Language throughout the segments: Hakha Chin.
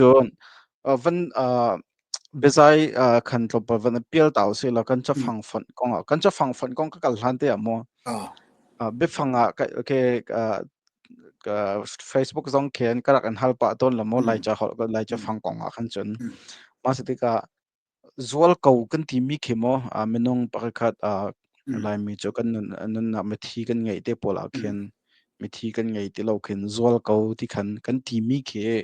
cun van biazai khan tlawmpal van a pial ta usih law kan cafang fonh kong ah kan cafang fonh kong ka kal hlan te ah maw biafang ah ke facebook zong khen karak an hal pah tawn la maw lai ca holh lai cafang kong ah khan cun mah se tikah Zual ko kan timi khi maw minung pakhat khat Laimi cu kan nunnak mithi kan ngei te pawl ah khin mithi kan ngei ti lo khin zual ko ti khan kan timi khi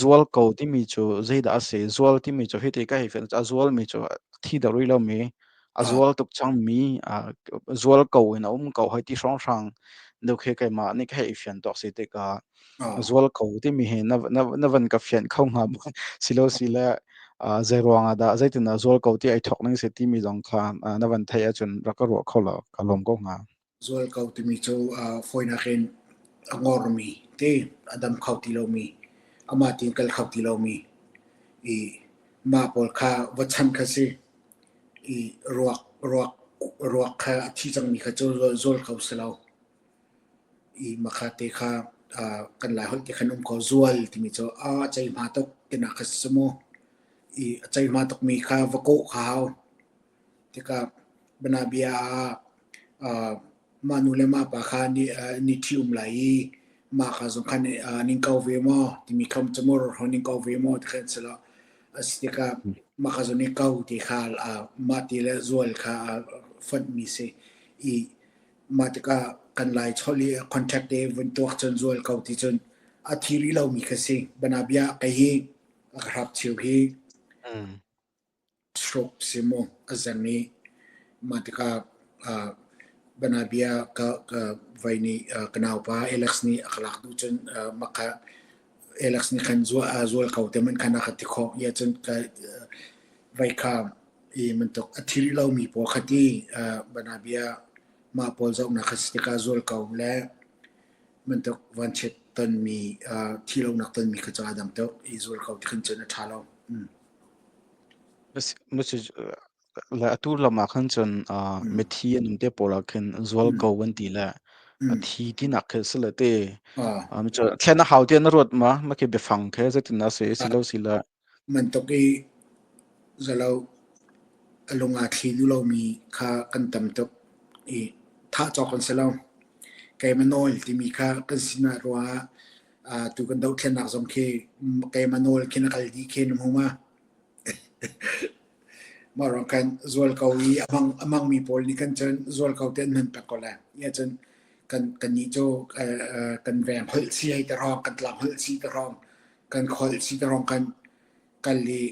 zual ko timi cu zeidah a si? Zual timi cu hiti ka hei fian a zualmi cu thi deuh rih lomi a zual tuk cangmi zual ko in a um ko hoi ti hrawnghrang deuh khi keimah nih ka hei fian tuak si tikah. zual ko timi hi na van ka fianh kho hnga maw silo sile zeiruang ah dah zeitin dah zual ko ti ai thok ning si timi zong kha na van theih ahcun rak ka ruah kho lo ka lawm ko hnga zual ko timi cu foina hin angor mi ti adam kho ti lo mi ama tin kal kho ti lo mi i ma pawl kha vachan kha si i ruak ruak ruak kha a thi cang mi kha cu zual ko silo i makha te kha uh, kan lai holh te khan um ko zual timi cu a chei hma tuk tina kha si mu i a chei hma tuk mi kha va kawh kha hau tika bana bia uh, ma nu le ma pa kha ni uh, ni thi um lai i ma kha zong khan uh, ning kau ve mo timi khom chamur ho ning kau ve mo ti khan selo asitika ma kha zong ning kau ti kha uh, ma ti le zual kha uh, fat mi si i mah tikah kan lai cholh i contract te vun tuak cun zual ko ti cun a thi rih lomi kha si bana bia kei hi a ka hrap chiu hi mm. stroke si mu a zang i mah tikah uh, bana bia ka ka vai ni uh, ka nau pa Alex ni a kalak du cun uh, maka Alex ni khan zuwa zual ko te man khana khati kho ya cun ka vai kha i bantuk a thil lomi pawl kha ti uh, banabia mah pawl zohnak kha si tikah zul ko le bantuk vanchiat tonmi uh, thi lonak tonmi kha cu aa dang tuk i zul ko ti khan cun a ṭha lo. Mm. Le atu lam ah khan cun uh, mm. mithi an um te pawl ah khin zual mm. ko an ti le a thi ti nak khe sile te thlen a hau ti na ruat ma ma ke biafang khe zetin na se si lo si le Mantuk i zalo a lung aa thli duh lomi kha kan tam tuk i thah cawk kan si lo. Keimah nawl timi kha kan sinah rua ah aa tu kan dohthlennak zong khi keimah nawl khin a kal dih khin a hmum a. Mah ruang khan zual ko i a hmang, a hmangmi pawl nih khan cun zual ko te an hman peng ko lai. Nia cun kan, kannih cu kan veng holh si hei ti hrawng, kan tlang holh si ti hrawng kan kholh si ta rong kan kal i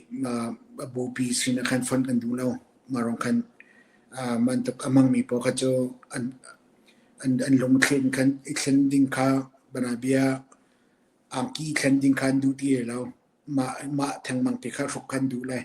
bupi sin khan fon kan duh lo ma rong kan man tuk amang mi paw kha cu an an an lung thlen kan i thlen ding kha bana bia angki thlen ding khan duh ti lo ma ma theng mang te kha hruk kan duh lai